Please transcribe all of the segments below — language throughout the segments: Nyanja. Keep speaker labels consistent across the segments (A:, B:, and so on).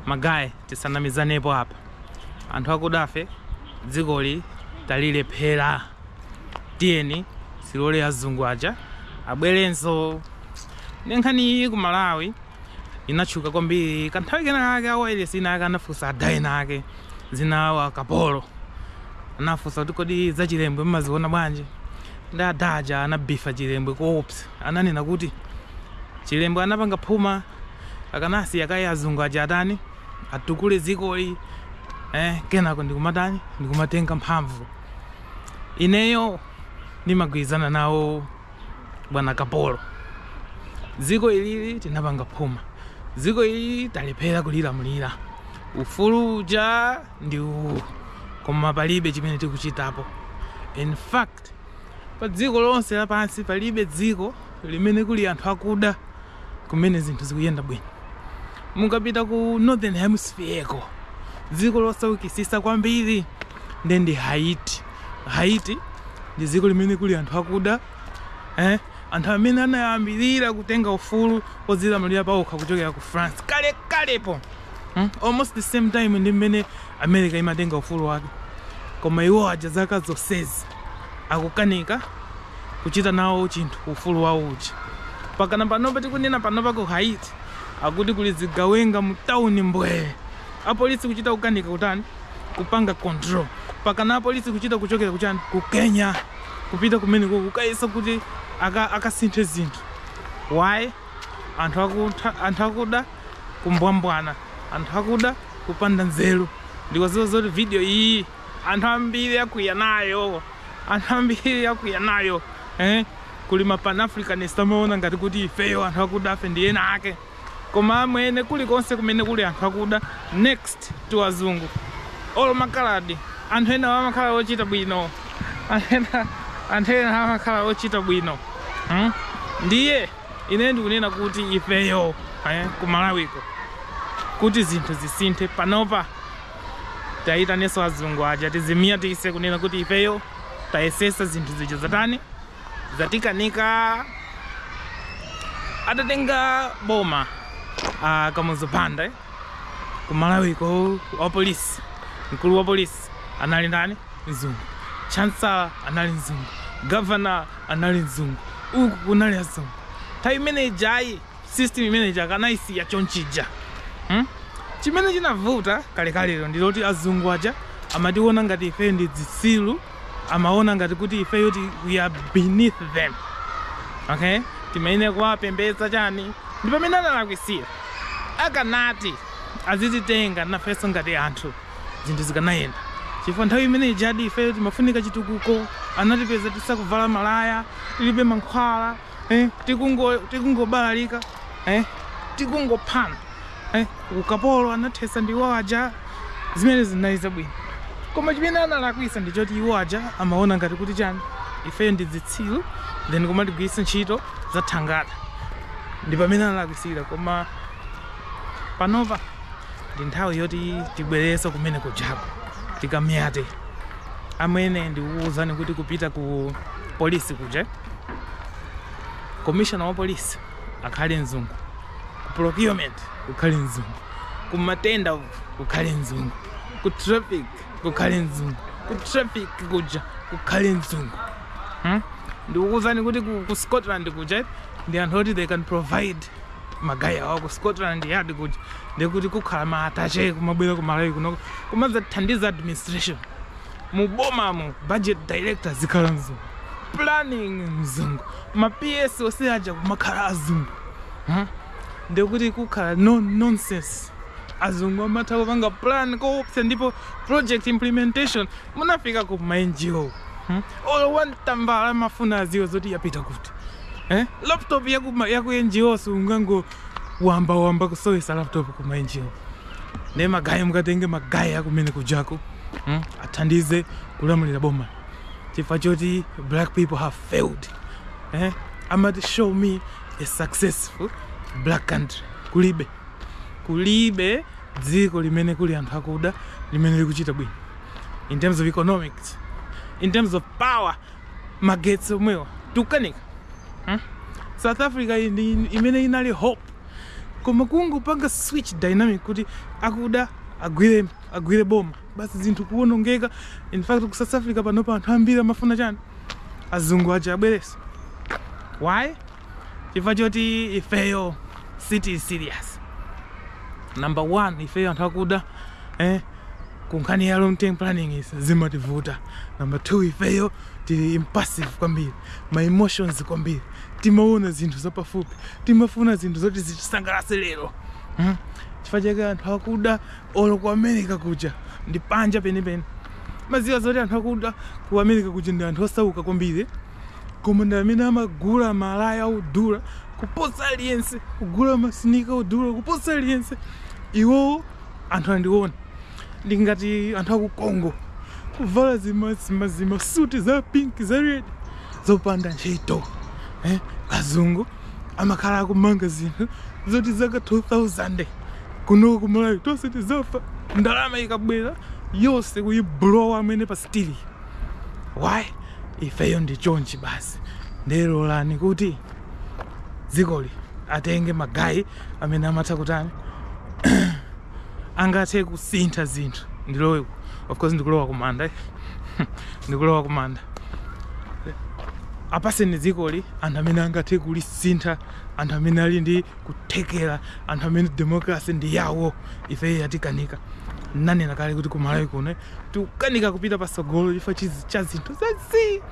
A: Magaye tisanamizanepo apa. Anthu akudafe dzikoli talilephera. Tiyeni tilole azungu aja abwerenso. Ndi nkhani iyi ku Malawi inatchuka kwambiri kanthawi kenakake a wayilesi inayake anafunsa ada enaake dzina lawo a Kapolo anafunsa kuti kodi za Chilembwe mumaziona bwanji nde ada aja anabifa Chilembwe koopsa ananena kuti Chilembwe anapanga phuma akanasiya kaye azungu aja atani atukule dzikoli eh, kenako ndikumatani ndikumatenga mphamvu ineyo ndimagwirizana nawo bwana Kapolo dziko ilili tinapanga phuma dziko ili talephera kulilamulira ufulu uja ndi uwu koma palibe chimene tikuchitapo in fact Pa dziko lonse lapansi palibe dziko limene kuli anthu akuda kumene zinthu zikuyenda bwino. Mukapita ku Northern Hemisphere ko dziko losaukitsitsa kwambiri ndi ndi Haiti. Haiti ndi dziko limene kuli anthu akuda eh? anthu amene anayambirira kutenga ufulu wodzilamulira pawokha kuchokera ku France kale kalepo. Hmm? Almost the same time ndi mmene America imatenga ufulu wake. Koma iwo aja zaka zonsezi akukanika kuchita nawo chinthu ufulu wawo uja. Pakana panopa tikunena panopa ku Haiti akuti kuli zigawenga mu town mbwee. Apolisi kuchita kukanika kutani? Kupanga control. Pakana apolisi kuchita kuchokera kuchani? Ku Kenya. Kupita kumene kukayesa kuti aka akasinthe zinthu. Why? Anthu akuda kumbwambwana anthu akuda kupanda nzeru ndikudziwa zoti video iyi anthu ambiri akwiya nayo anthu ambiri akwiya nayo eh? kuli ma panafricanist amaona ngati kuti ifeyo anthu akudafe ndi ena ake koma amwene kulikonse kumene kuli anthu akuda next to azungu olo makaladi anthu enawa amakhala ochita bwino anthu enawa amakhala ochita bwino hmm? ndiye Ine ndikunena kuti ifeyo ku Malawiko kuti zinthu zisinthe panopa tiayitanenso azungu aja tidzimbwandikitse kunena kuti ifeyo tayesetsa zinthu zija zatani zatikanika atatenga boma a Kamuzu Banda eh? ku Malawiko wa polisi mkulu wa polisi anali ndani mzungu chancellor anali mzungu governor anali mzungu uku kunali azungu nthawi imene ija ayi system imene ija akanayisiya chonchija hmm? chimene chinavuta kalekalero ndi loti azungu aja amationa ngati ifeyo ndi zitsilu amaona ngati kuti ifeyo ti we are beneath them okay timayenera kuwapembedza chani ndi pamene analakwisira akanati azititenga nafenso ngati anthu zinthu zikanayenda chifukwa nthawi imene ijadi ifeyo timafunika chitukuko anatipeza tisakuvala malaya tilibe mankhwala eh, tikungo tikungobalalika eh, tikungophana eh, ukapolo anathesa ndi iwo aja zimene zinali zabwino koma chimene analakwisa ndi choti iwo aja amaona ngati kuti chani ifeyo ndi zitsiru then kumatigwiritsa ntchito za thangata ndi pamene analakwisira koma panopa ndi nthawi yoti tibwererenso kumene kujako tikamyate amwene ndikukuwuzani kuti kupita ku polisi kuja commissioner wa polisi akhale mzungu ku procurement kukhale mzungu ku matenda kukhale mzungu ku traffic kukhale mzungu ku traffic kuja kukhale mzungu hmm? ndikukuwuzani kuti ku, ku scotland kuja ndi anthu oti they can provide magayi awa ku scotland yard kuja ndekuti kukhala ma atache kumabwera ku malawi kuno kumadzathandiza administration mu bomamo budget director zikhala mzungu planning mzungu ma ps onse aja kumakhala azungu huh? ndekuti kukhala no nonsense azungu amatha kupanga plan koopsa ndipo project implementation munafikako ku ma ngo hmm? olo wan tambala amafuna aziwe zoti yapita kuti Eh? Laptop ya ku ya ku NGO sungango wamba wamba kusowesa laptop ku NGO. Nde magaye mukatenge magaye akumene kujako. Hmm? Athandize kulamulira boma. Chifukwa choti black people have failed. Eh? Amati show me a successful black country. Kulibe. Kulibe dziko limene kuli anthu akuda limene likuchita bwino in terms of economics in terms of power magetsi omwewa tikukanika hmm? south africa iyi ndi imene inali hope koma kungopanga switch dynamic kuti akuda agwire agwire boma basi zinthu kuwonongeka in fact ku south africa panopa anthu ambiri amafuna chani azungu aja abwereso why chifukwa choti ifeyo sitili serious number one ifeyo anthu akuda eh, kunkhani ya long term planning izi zimativuta number two ifeyo tili impulsive kwambiri ma emotions kwambiri timaona zinthu zapafupi timafuna zinthu zoti zitisangalatse lero hmm? chifukwa chake anthu akuda olo ku america kuja ndi panja penipeni mumaziwa zoti anthu akuda ku america kuja ndi anthu osauka kwambiri koma ndi amene amagula malaya odula kuposa aliyense kugula machine car odula kuposa aliyense iwowo anthu ndimaona ngati anthu aku congo kuvala zima zima zima suti za pink za red zopanda ntchito eh? azungu amakhala akumanga zinthu zoti zaka 2000 kuno kumalawi tonse tizafa ndalama ikabwera yonse kuiblowa amene pa street why ifeyo ndi chonchi basi ndiye lolani kuti dzikoli atenge magayi amene amatha kutani angathe kusintha zinthu ndilowe of course ndikulowa kumanda eh? ndikulowa kumanda apaseni dzikoli anthu amene angathe kulisintha anthu amene ali ndi kuthekera anthu amene democracy ndi yawo ife yatikanika ndanena kale kuti kumalawi kuno tikukanika kupita patsogolo chifukwa chizi- cha zinthu za zii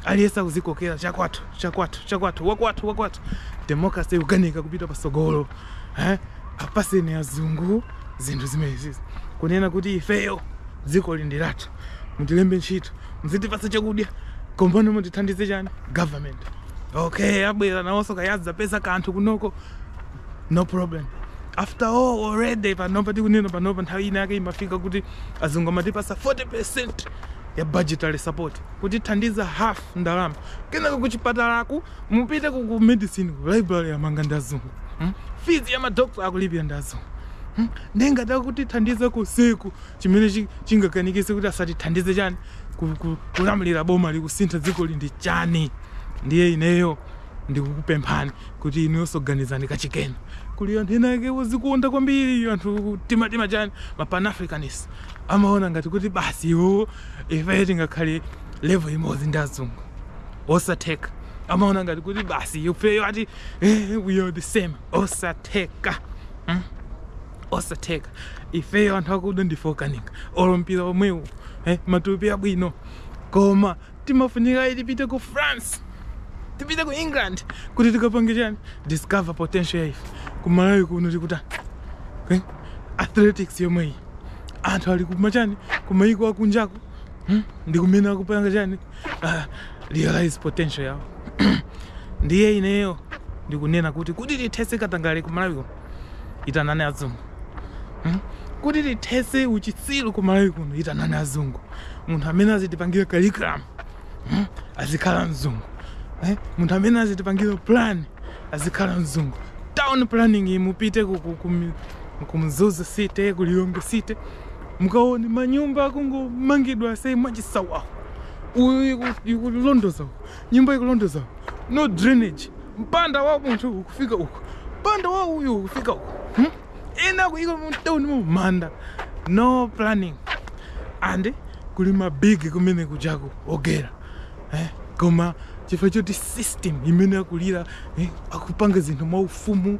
A: aliyense akuzikokera chakwathu chakwathu chakwathu wakwathu wakwathu democracy ikukanika kupita patsogolo eh? apaseni azungu zinthu zimenezizi kunena kuti ifeyo dzikoli ndi lathu mutilembe ntchito muzitipatsa chakudya kombano mutithandize chani government okay abwera nawonso kaya adzapeza kanthu kunoko no problem after all already panopa tikunena panopa nthawi ina yake imafika kuti azungu amatipasa 40 percent ya budgetary support kutithandiza half ndalama kenaka kuchipatalaku mupite ku ku medicine ku library yamanga ndi azungu hmm? fees ya madokta akulipira ndi azungu hmm? nde ngati akutithandiza ku zimenezo chimene chi- chingakanikise kuti asatithandize chani ku- ku- kulamulira bomali kusintha dzikoli ndi chani ndiye ineyo ndikukupemphani kuti inuyonso ganizani kachikenanso kuli anthu ena ake ozikonda kwambiri anthu tima tima chani ma pan africanist amaona ngati kuti basi iwowo ife tingakhale level imodzi ndi azungu osatheka amaona ngati kuti basi ifeyo ati eh, we are the same osatheka hmm? osatheka ifeyo anthu akuda ndife okanika olimbira omwewo eh, matupi abwino koma timafunika kuti tipite ku france tipite ku england kuti tikapange chani discover potential ya ife ku malawi kuno tikuta eh? athletics yomwe iyi anthu ali kumachani kumayiko akunjaku hmm? ndi kumene akupanga chani ah, realize potential yawo ndiye ineyo ndikunena kuti kuti tithese katangale ku malawi kuno itanani azungu hmm? kuti tithese uchitsiru ku malawi kuno itanani azungu munthu amene azitipangira curriculum hmm? azikhala mzungu eh? munthu amene azitipangira plan azikhala mzungu town planning mupite kumzuzu city kulilonge city mukaone manyumba akungomangidwa sei mwachisawawa uyu ikulondoza Nyumba ikulondoza. No drainage. Mpanda wa munthu ukufika uko. Mpanda wa uyu ukufika uku. Hmm? Ena akuika mtauni mumanda. No planning. And kuli ma big kumene kujako ogera. Eh? Koma chifukwa choti system imene akulira eh? akupanga zinthu mwa ufumu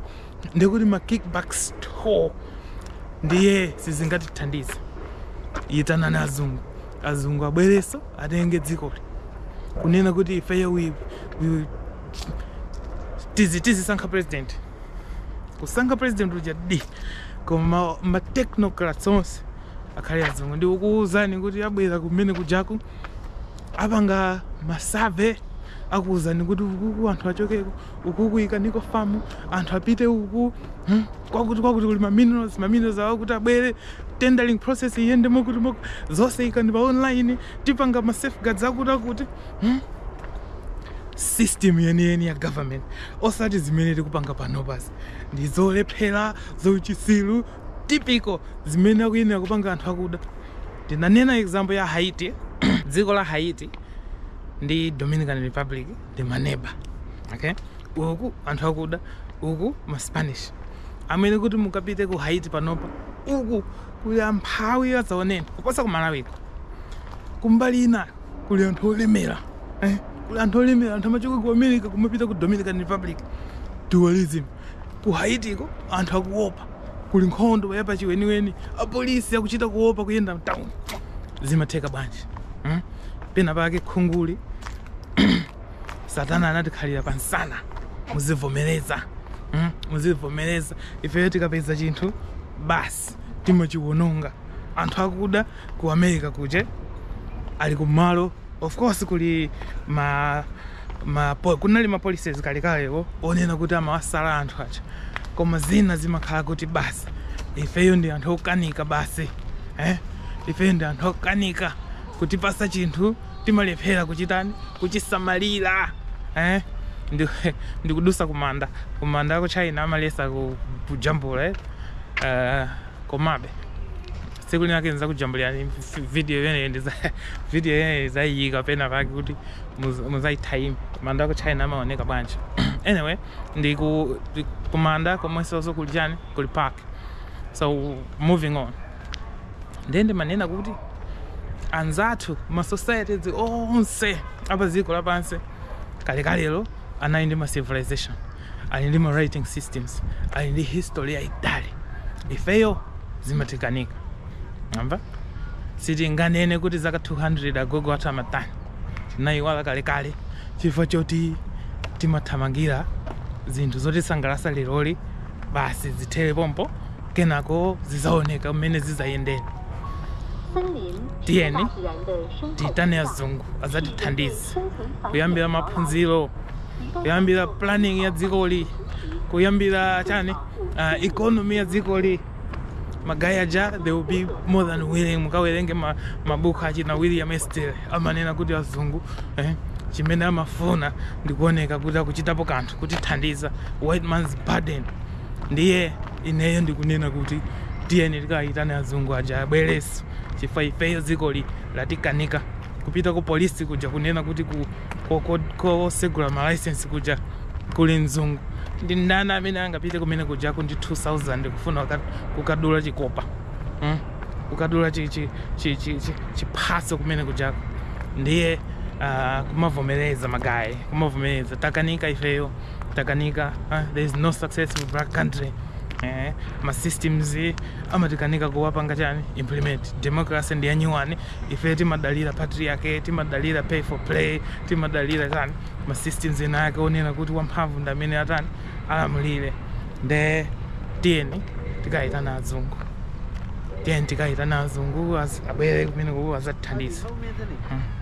A: ndi kuti ma kickbacks too ndiye sizingatithandize itanani azungu azungu abwerenso atenge dzikoli kunena kuti ifeyo we, we, tizi tizisankha president kusankha president ujadi koma ma technocrats onse akhale azungu ndikukuwuzani kuti abwera kumene kujaku apanga ma survey akuwuzani kuti ukuku anthu achokeko ukuku ikaniko famu anthu apite uku hmm? kwakuti kwakuti kuli maminerals maminerals akuti abwere tendering process iyende mokuti mokuti zonse ikani pa online tipanga ma safeguards akuti akuti hmm? system yeniyeni ya government osati zimene tikupanga panopazi ndi zolephera zauchisiru typical zimene akuyenera kupanga anthu akuda ndinanena example ya haiti dziko la haiti ndi dominican republic ndi maneba okay uku anthu akuda uku maspanish amwene kuti mukapite ku haiti panopa uku kuli amphawi adzaoneni kuposa ku malawi kuno kumbali ina kuli anthu olemera eh? kuli anthu olemera anthu amachoka ku america kumapita ku dominican republic dualism Ku Haitiko anthu akuopa, kuli nkhondo yapachiweniweni, apolisi akuchita kuopa kuyenda mtauni. Zimatheka bwanji? Hmm? Pena pake khunguli satana anatikhalira pamsana, muzivomereza hmm? muzivomereza. Ifeyo tikapeza chinthu basi timachiwononga. Anthu akuda ku America kuja ali kumalo of course kuli ma ma po- kunali ma policies kalekalewo onena kuti amawasala anthu aja koma zina zimakhala kuti basi ifeyo ndi anthu okanika basi eh? ifeyo ndi anthu okanika kutipasa chinthu timalephera kuchitani kuchisamalira eh? ndi, ndikudusa kumanda kumanda aku china amalesa ku- kujambula eh? uh, komabe Tsiku linake ndizakujambulirani video imeneyi video video imeneyi nizayiyika pena pake kuti muz- muzaithayime manda aku china amaoneka bwanji anyway ndi ku ndi kumanda komwensoso kuli chani kuli park so moving on ndiye ndimanena kuti anzathu ma societies onse apa dziko lapansi kalekalero anali ndi ma civilization ali ndi ma writing systems, ali ndi history yaitali. Ifeyo zimatikanika. Mwamva? Sitinganene kuti zaka 200 agogo athu amatani. Tinayiwala kalekale chifukwa choti timathamangira zinthu zotisangalatsa leroli basi zithere pompo kenako zidzaoneka mmene zidzayendere tiyeni tiyitane azungu adzatithandize kuyambira maphunziro kuyambira planning ya dzikoli kuyambira chani uh, economy ya dzikoli magaya aja they will be more than willing mukawerenge mabuku ma achina william easterly amanena kuti azungu eh, chimene amafuna ndikuoneka kuti akuchitapo kanthu kutithandiza white man's burden ndiye ineyo ndikunena kuti tiyeni tikayitane azungu aja abwerenso chifukwa ifeyo dzikoli latikanika kupita ku polisi kuja kunena kuti ku ko- ko- kosegula malaisensi kuja kuli mzungu ndi ndani amene angapite kumene kujako ndi 2000 kufuna waka- kukadula chikopa hmm? kukadula chi- chi- chi- chi- chi- chiphaso kumene kujako ndiye ah, kumavomereza magayi kumavomereza takanika ifeyo takanika ah, there is no successful black country eh, ma systems amatikanika kuwapanga chani implement democracy ndi yanyuwani ife timadalira patriarchy timadalira pay for play timadalira chani ma systems ena ake onena kuti wamphamvu ndi amene atani alamulire nde tiyeni tikayitane azungu tiyeni tikayitane azungu az- abwere kumene kuku azatithandize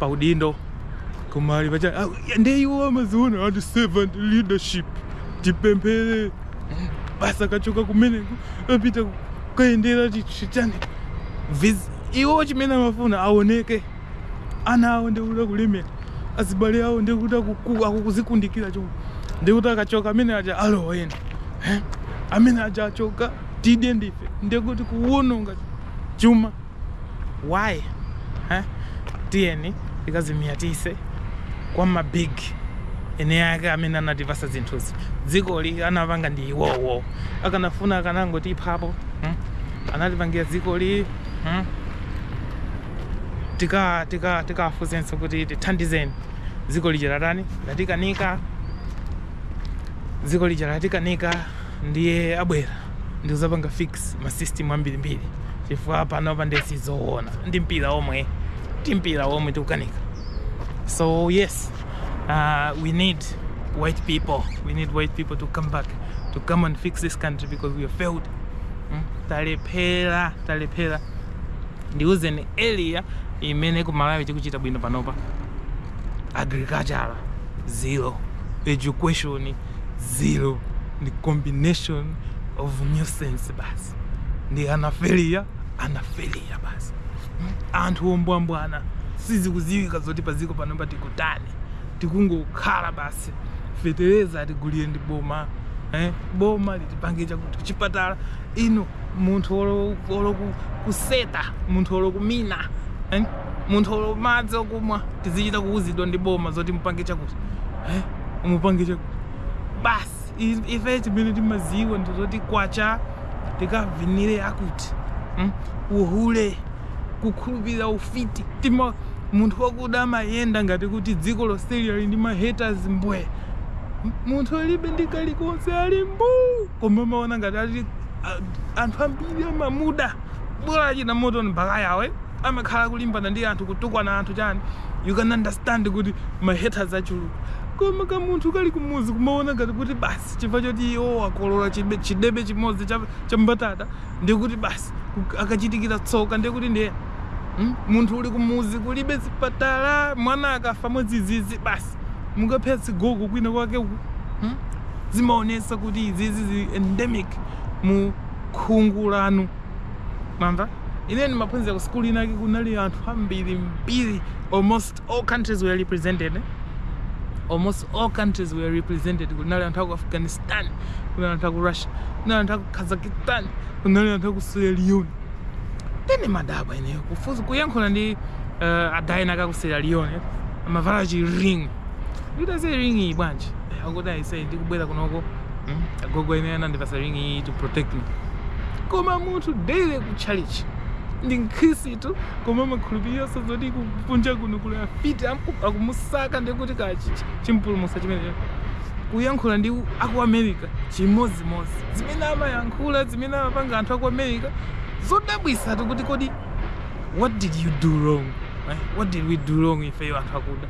A: pa udindo koma ali pachani iwo amaziona ati servant leadership tipemphere basi akachoka kumeneko apita kukayendera chichani iwo chimene amafuna aoneke ana awo ndikuti akulemera azibale awo ndikuti akuzikundikira chomwe ndikuti akachoka amene aja alowa ena amene aja achoka tidye ndife ndikuti kuwononga chuma why eh? tiyeni tikazinyatise kwa ma big ena ake amene anatipasa zinthuzi dzikoli anapanga ndi iwowo akanafuna akanangotiphapo hmm? anatipangira dzikoli hmm? tika tika tikawafunsenso kuti tithandizeni dziko lija latani latikanika dziko lija latikanika ndiye abwere ndikuzapanga fix ma system ambirimbiri chifukwa panopa ndiye sizoona ndi mpira omwe ti mpira omwe tikukanika so yes uh, we need white people we need white people to come back to come and fix this country because we have failed mm? talephera talephera ndiuzeni area imene ku malawi tikuchita bwino panopa agriculture zero education zero ndi combination of nonsense basi ndi anafeliya anafeliya basi anthu ombwambwana sizikuziwika zoti paziko panopa tikutani tikungokhala basi fetereza atigulire ndi boma eh? boma litipange chakuti kuchipatala ino munthu olo- olo ku- kuseta munthu olo kumina eh? munthu olo madzi okumwa tizichita kuuzidwa ndi boma zoti mupange chakuti eh? mupange cha basi Is- ife chimene timaziwa ndizoti kwacha tikavinire akuti mm? uhule kukhulupirira ufiti tima munthu wakuda amayenda ngati kuti dziko lonseli ali ndi mahaters mbwe M- munthu alibe ndi kalikonse ali mbuu koma amaona ngati ali a- anthu ambiri amamuda bola achita moto mpaka yawe amakhala kulimbana ndi anthu kutukwana anthu chani you can understand kuti mahaters achuluka koma kamunthu kali kumuzi kumaona ngati kuti basi chifukwa choti iwo akolola chibe- chidebe chimodzi cha, cha mbatata ndiye kuti basi ku- akachitikira tsoka ndiye kuti ndiye mm? munthu uli kumuzi kulibe zipatala mwana akafa mwadzidzidzi basi mukaphetsa azigogo kwina kwake uku mm? zimaonesa kuti izizi zili endemic mu khungu lanu mwamva ine ndimaphunzira ku sikulu inake kunali anthu ambiri mbiri almost all countries were represented almost all countries were represented kunali anthu aku afghanistan kunali anthu aku russia kunali anthu aku kazakhstan kunali anthu aku sierra leone nde ndimadabwa ineyo kufunsa kuyankhula ndi uh, adayina aka ku sierra leone amavala chi ring ndati ayise ring iyi bwanji akuti ayise ndikubwera kunoko Hmm? agogo amene anandipasa ring iyi to protect me koma munthu daily ku church ndi mkhristu koma amakhulupiriranso zoti kunja kuno kuli afiti am- akumusaka ndikuti ka chi- chi- chipulumutso chimenecho kuyankhula ndi aku america chimodzimodzi zimene amayankhula zimene amapanga anthu aku america zodabwisa tikuti kodi what did you do wrong eh? what did we do wrong ifeyo anthu akuda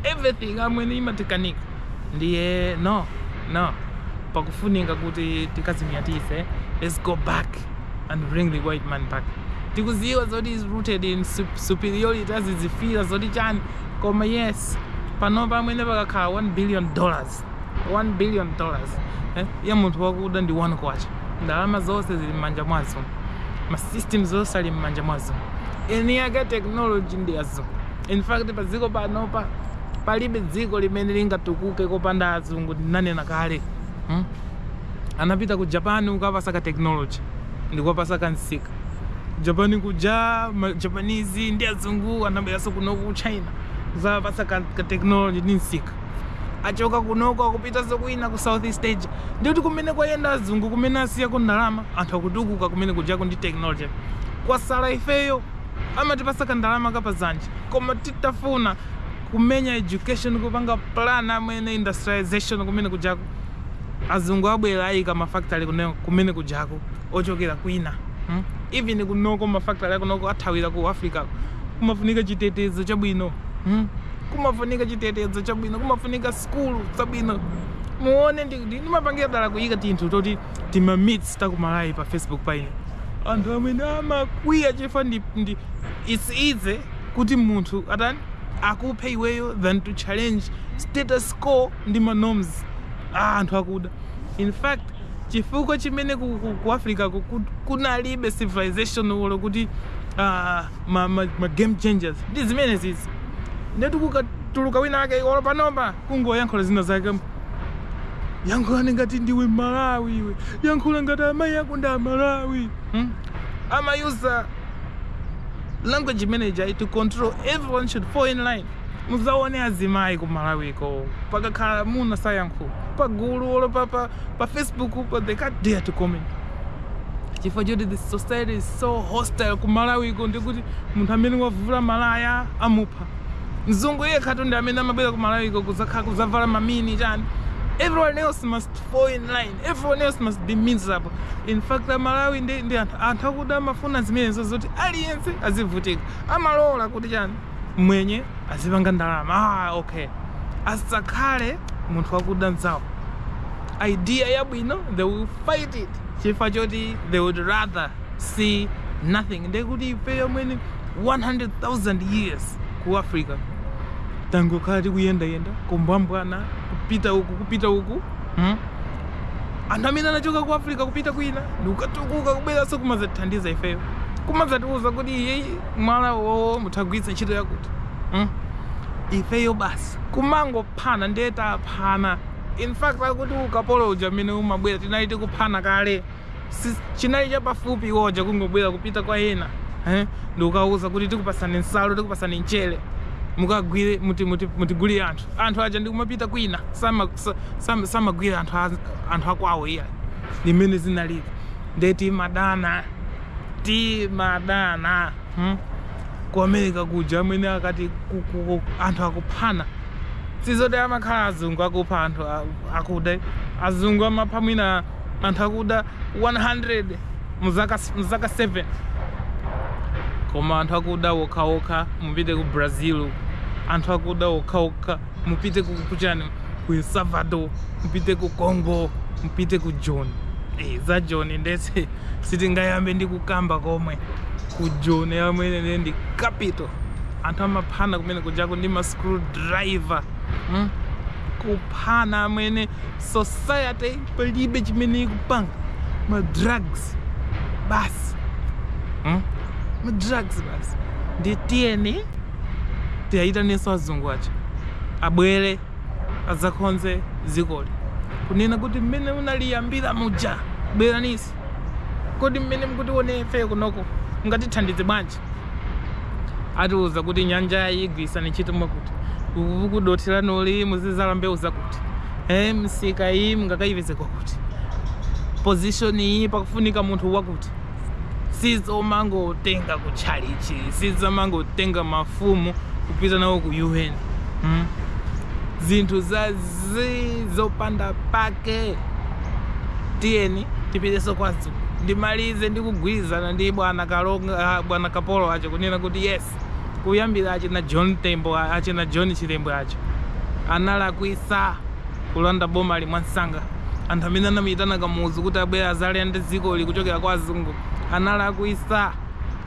A: everything amwene imatikanika ndiyeno no pakufunika kuti tikazimyatise let's go back and bring the white man back tikuziwa zoti is rooted in superiority azizifira zoti chani koma yes panopa amwene pakakhala 1 billion dollars 1 billion dollars eh, ya munthu wakuda ndi 1 kwacha ndalama zonse zili mmanja mwa azungu ma systems onse ali mmanja mwa azungu eni yake technology ndi azungu In fact padziko panopa palibe dziko limene lingatukuke kopanda azungu ndinanena kale hmm? anapita ku japan kukawapatsa ka technology ndikuwapatsa ka msika ku japan kuja ma japanese ndi azungu anabweranso kunoko ku china kuzawapatsa ka, ka technology ndi msika achoka kunoko akupitanso kwina ku southeast asia ndikuti kumene kwayenda azungu kumene asiyako ndalama anthu akutukuka kumene kujako ndi technology kwasala ifeyo amatipatsa kandalama ka pa dzanja koma titafuna kumenya education kupanga plan amwene industrialization kumene kujako azungu abwera ayika ma factory kumene, kumene kujako ochokera kwina hmm? even kunoko ma factory akunoko athawira ku africa kumafunika chitetezo chabwino hmm? kumafunika chitetezo chabwino kumafunika skulu zabwino muone ndi ndi- ndimapangira dala kuyika tinthu toti tima memes takumalawi pa facebook paine anthu amene amakwiya chifukwa ndi, ndi it's easy kuti munthu atani akuphe iweyo than to challenge status quo ndi ma norms a anthu akuda in fact chifukwa chimene ku, ku, ku africa ku, ku, kunalibe civilization olo kuti uh, ma, ma, ma game changers ndi zimenezizi nde kuti kukatuluka wina ake olo panopa kungoyankhula zina zake yankhula ngati ndiwe mmalawi iwe yankhula ngati amayi ako ndi amalawi hmm? amayusa language imeneija to control everyone should fall in line muzaone azimayi ku malawiko pakakhala amuna sayankhula pa gulu olo pa, pa, pa facebookpa they can't dare to comment chifukwa choti the society is so hostile ku malawiko ndikuti munthu amene wavula malaya amupha mzungu yekhatu ndi amene amabwera ku malawiko kuzakhala kuzavala mamini chani everyone else must fall in line everyone else must be miserable in fact amalawi ndi, ndi anthu, anthu akuda amafuna zimenezo zoti aliyense azivutika amalola kuti chani mwenye azipanga ndalama ah, okay asakhale munthu wakuda mzawo idea yabwino they will fight it chifukwa choti they would rather see nothing ndiye kuti ifeyo amwene 100000 years ku africa tangokhala tikuyendayenda kumbwambwana kupita uku kupita uku hmm? anthu amene anachoka ku africa kupita kwina ndikukatukuka kubweranso kumazatithandiza ifeyo kumazatiuza kuti iye mwala uwowo mutha kugwiritsa ntchito yakuti hmm? ifeyo basi kumangophana ndiye taphana in fact akuti ukapolo uja amene umabwera tinali tikuphana kale chinali chapafupi iwo aja kungobwera kupita kwa ena eh, ndikukawauza kuti tikupasani nsalu tikupasani mchere mukagwire mutigulire anthu anthu aja ndikumapita kwina samagwira anthu anthu akwawo iya limene zinalili nde timadana timadana hmm? ku america kuja amene akati anthu akuphana sizoti amakhala azungu akupha anthu akuda azungu amapha mwina anthu akuda 100 muzaka muzaka 7 koma anthu akuda okhaokha mupite ku brazil anthu akuda okhaokha mupite ku kuchani ku el salvador mupite ku congo mupite ku joni hey, eh, za joni ndiye sitingayambe ndi kukamba komwe ku joni amwene ndiye ndi capital anthu amaphana kumene kujako ndi ma screwdriver hmm? kuphana amwene society palibe chimene ikupanga ma drugs basi hmm? ma drugs basi ndiye tiyeni tiwayitanenso azungu aja abwere adzakonze dzikoli kunena kuti mmene munaliyambira muja bweraninso kodi mmene mukutionera ifeyo kunoko mungatithandize bwanji atiuza kuti nyanjayi igwirisani ntchito mwakuti ukuku dothi lanuli muzidzala mbewu zakuti eh, msika iyi mungakayipeze kwakuti position iyi pakufunika munthu wakuti sizomangotenga ku tchalitchi sizomangotenga mafumu kupita nawo ku un hmm? zinthu zazii zopanda pake tiyeni tipitenso kwa a- Ndimalize ndi kugwirizana ndi bwana Kalonga, ah, bwana Kapolo aja kunena kuti yes, kuyambira achina John Tembo, a- achina John Chilembwe aja analakwisa kulanda bomali mwamsanga. Anthu amene anamuyitana Kamuzu kuti abwere adzalande dzikoli kuchokera kwa azungu analakwisa.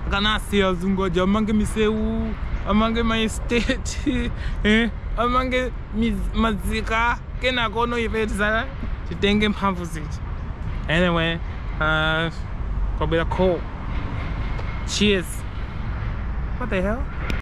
A: Akanasiya azungu aja amange misewu, amange ma estate, eh, amange miz- madziko. kenakono ife tidzaka titenge mphamvu zija anyway uh, kwabwera call cheers what the hell